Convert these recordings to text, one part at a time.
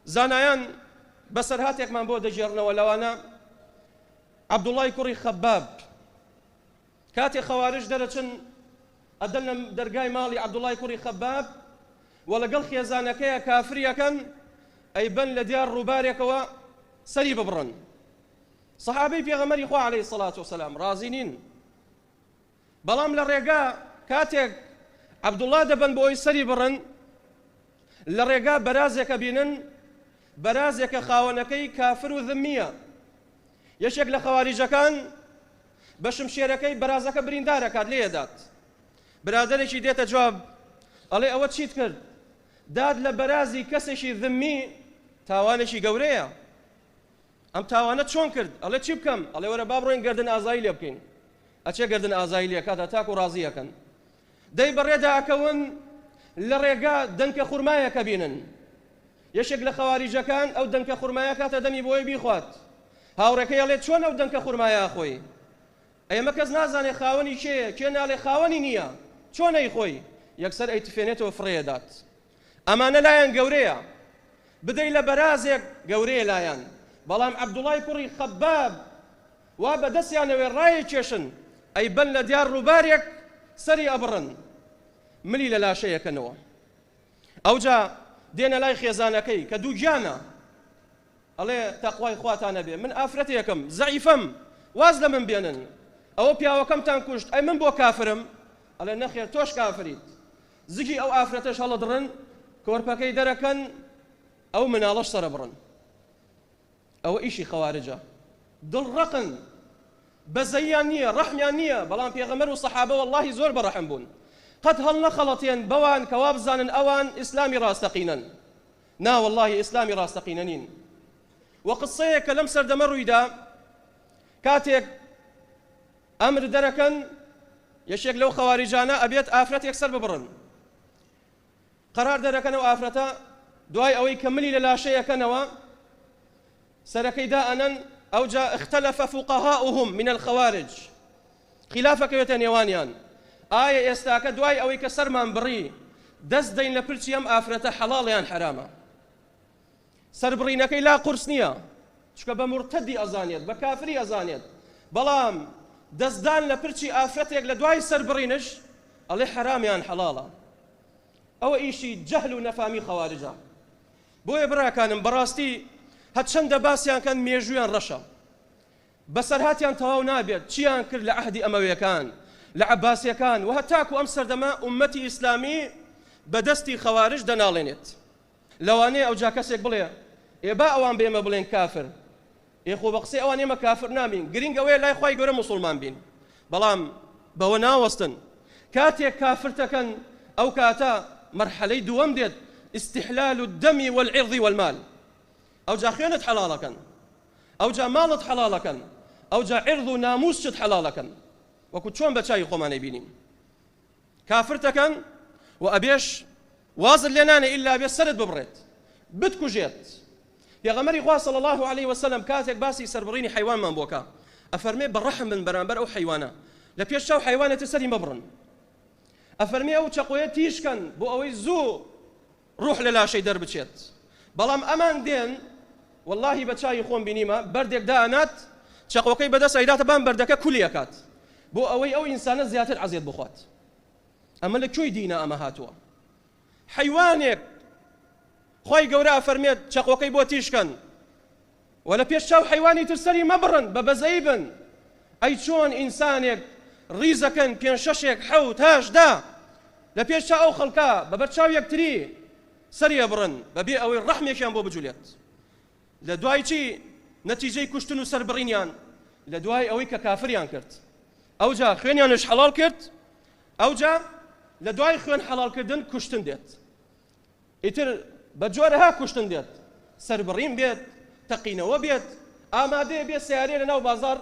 زانایان بەسەرهاتێکمان بۆ دەگێڕنەوە لەوانە عەبدوڵڵای کوڕی خەباب کاتێ خەوارش دەرەچن ئەدەن لە دەرگای ماڵی عەبدوڵای کوڕی خەباب و لەگەڵ خێزانەکەیە کافریەکەن ئەی بن لە دیار ڕووبارێکەوە سەری ببڕن سەحابەی پێغەمەری خوا عليه سەڵات وسلام ڕازی نین بەڵام لە ڕێگا کاتێک عەبدوڵڵا دەبەن بۆ ئەوی سەری بڕن، لە ڕێگا بەرازێک ئەبینن، بەرازێک کە خاوەنەکەی کافر و ذمییە. یەکێک لە خەواریجەکان بە شمشێرەکەی بەرازەکە بریندار ئەکات، لێی ئەدات. برادەرێکی دێتە جواب ئەڵێ ئەوە چیت کرد؟ داد لە بەرازی کەسێکی ذمی تاوانێکی گەورەیە. ئەم تاوانە چۆن کرد ئەڵێ چی بکەم ئەڵێ وەرە با بڕۆین گردن ئازایی لێ بکەین ئەچێ گردن ئازایی لێکاتە تاکو ڕازیەکەن دەی بەڕێدا ئەکەون لە ڕێگا دەنکە خورمایەکە بینن یەشێک لە خەواریجەکان ئەو دەنکە خورمایە کاتە دەمی بۆی بیخوات هاوڕێکەی ئەڵێ چۆن ئەو دەنکە خورمایە خۆی ئێمە کەس نازانێ خاوەنی کێ کێ ناڵێ خاوەنی نییە چۆنەی خۆی یەکسەر ئەی تفێنێتەوە فڕێدات ئەمانە لایان گەورەیە بدەی لە بەرازێک گەورەیە لایان بەڵام عەبدوڵای کوڕی خەباب وا بەدەستیانەوێ ڕایە کێشن ئەی بەن لە دیار ڕووبارێک سەری ئەبڕن ملی لە لاشەیەکەنەوە ئەوجا دێنە لای خێزانەکەی کە دوو گیانە ئەڵێ تەخوای خواتانە بێ من ئافرەتێکم زەعیفەم واز لە من بێنن ئەوە پیاوەکەمتان کوشت ئەی من بۆ کافرم ئەڵێ نەخێر تۆش کافریت زگی ئەو ئافرەتەش هەڵدڕن کۆرپەکەی دەرەکەن ئەو مناڵەش سەرەبڕن ئەوە ئیشی خەوارجە دڵ ڕەقن بەزەیان نییە ڕەحمیان نییە بەڵام پێغەمەر و سەحابە واللهی زۆر بەڕەحم بوون قەت هەڵ نەخەڵەتێن بەوان کەوا بزانن ئەوان ئیسلامی ڕاستەقینەن نا واللهی ئیسلامی ڕاستەقینە نین وە قسەیە کە لەم سەردەمە ڕوویدا کاتێک ئەمر دەرەکەن یەکێک لەو خەواریجانە ئەبێت ئافرەتێک سەر ببڕن قەرار دەرەکەن ئەو ئافرەتە دوای ئەوەی کە ملی لە لاشەیەکەنەوە سەرەکەی دائەنەن ئەوجا اختلف فقهاؤهم من الخوارج خلافەکەوێتە نێوانیان ئایا ئێستاکە دوای ئەوەی کە سەرمان بڕی دەست دەین لە پرچی ئەم ئافرەتە حەڵاڵیان حرامە سەربڕینەکەی لا قورس نییە چکە بە مرتدی ئەزانێت بە کافری ئەزانێت بەڵام دەستدان لە پرچی ئافرەتێک لە دوای سەربڕینش ئەڵێ حەرامیان حەڵاڵە ئەوە ئیشی جەهل و نەفامی خەوارجە بۆیە براکانم بەڕاستی هەرچەندە باسیان کەن مێژویان ڕەشە بەسەرهاتیان تەواو نابێت چیان کرد لە عهدی ئەمەوێکان لە عباسیەکان و هەتاکو ئەم سەردەمە ئومەتی ئیسلامی بەدەستی خەوارش دەناڵێنێت لەوانەیە ئەوجا کەسێک بڵێ، ئێ با ئەوان بە ئێمە بڵێن کافر، ئێ خۆ بە قسەی ئەوان ئێمە کافر نابین، گرینگ ئەوەیە لای خوای گەورە موسوڵمان بین. بەڵام بەوە ناوەستن کاتێک کافرتەکەن ئەو کاتە مەرحەلەی دووەم دێت، استحلال الدم والعرض والمال، ئەوجا خوێنت حەڵاڵەکەن، ئەوجا ماڵت حەڵاڵەکەن، ئەوجا عرض و نامووسشت حەڵاڵەکەن، وەکو چۆن بە چاوی خۆمان ئەیبینین. کافرت دەکەن و ئەبێش وازت لێ نانێ ئیلا ئەبێ سەرت ببڕێت بتکوژێت پێغەمبەری خوا صلی الله علیه و سلم کاتێک باسی سەربڕینی حیوانمان بۆ کا ئەفەرمێ بە ڕەحم بن بەرامبەر ئەو حیوانە لە پێش چاو حیوانێتە سەری مەبڕن ئەفەرمێ ئەو چەقۆیە تیژکەن بۆ ئەوەی زوو ڕوح لە لاشەی دەربچێت بەڵام ئەمان دێن وەڵاهی بە چاوی خۆم بینیمە بەردێک دانات چەقۆکەی بەدەست ئەیداتە بان بەردەکە کولی ئەکات بۆ ئەوەی ئەو ئینسانە زیاتر عەزێت بخوات ئەمە لە کوێی دینە ئەمە هاتووە حیوانێک خی گەورە ئەفەرمێت چەقۆکەی بۆ تیشکەن وە لە پێش چاو حەیوانی تر سەری مەبڕن بە بەزەی بن ئەی چۆن ئینسانێک ڕیزەکەن پێنج شەشێک حەوت هەشت دە لە پێش چاو ئەو خەڵکە بە بەر چاو یەکتری سەری ئەبڕن بە بێ ئەوەی ڕەحمێکیان بۆ بجولێت لە دوای چی نەتیجەی کوشتن و سەربڕینیان لە دوای ئەوەی کە کافریان کرد ئەوجا خوێنیانش حەڵاڵ کرد ئەوجا لە دوای خوێن حەڵالکردن کوشتن دێت ئیتر بە جۆرەها کوشتن بێت، سەربڕین بێت، تەقینەوە بێت، ئامادەیە بێ سەیارەیە لە ناو بازاڕ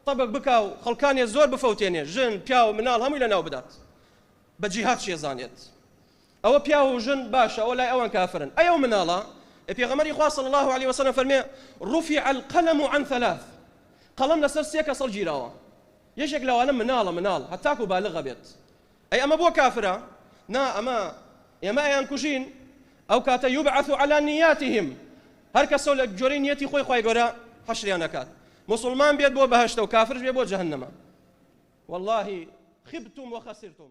تەبک بکا و خەڵکانێ زۆر بفەوتێنێ، ژن، پیاو، مناڵ هەمووی لە ناو بدات. بە جیهاد چیە زانێت. ئەوە پیاو و ژن باشە ئەوە لای ئەوان کافرن. ئەی ئەو مناڵە؟ ئێ پێغەمبەری خوا صلی اللە علیە وسلم فەرمێ، رفع القلم عن ثلاث، قەڵەم لەسەر سێ کەس هەڵگیراوە. یەکێک لەوانە مناڵە، مناڵ، هەتاکو بالغ ئەبێت. ئەی ئەمە بۆ کافرە؟ نا ئەمە ئێمە ئەیانکوژین ئەو کاتە یوبعث علی نیاتهم هەر کەسەو لە گوێرەی نیەتی خۆی خوای گەورە حەشریان ئەکات موسڵمان بێت بۆ بەهەشتەو کافرش بێت بۆ جەهەنەمە واللە خبتم وخسرتم.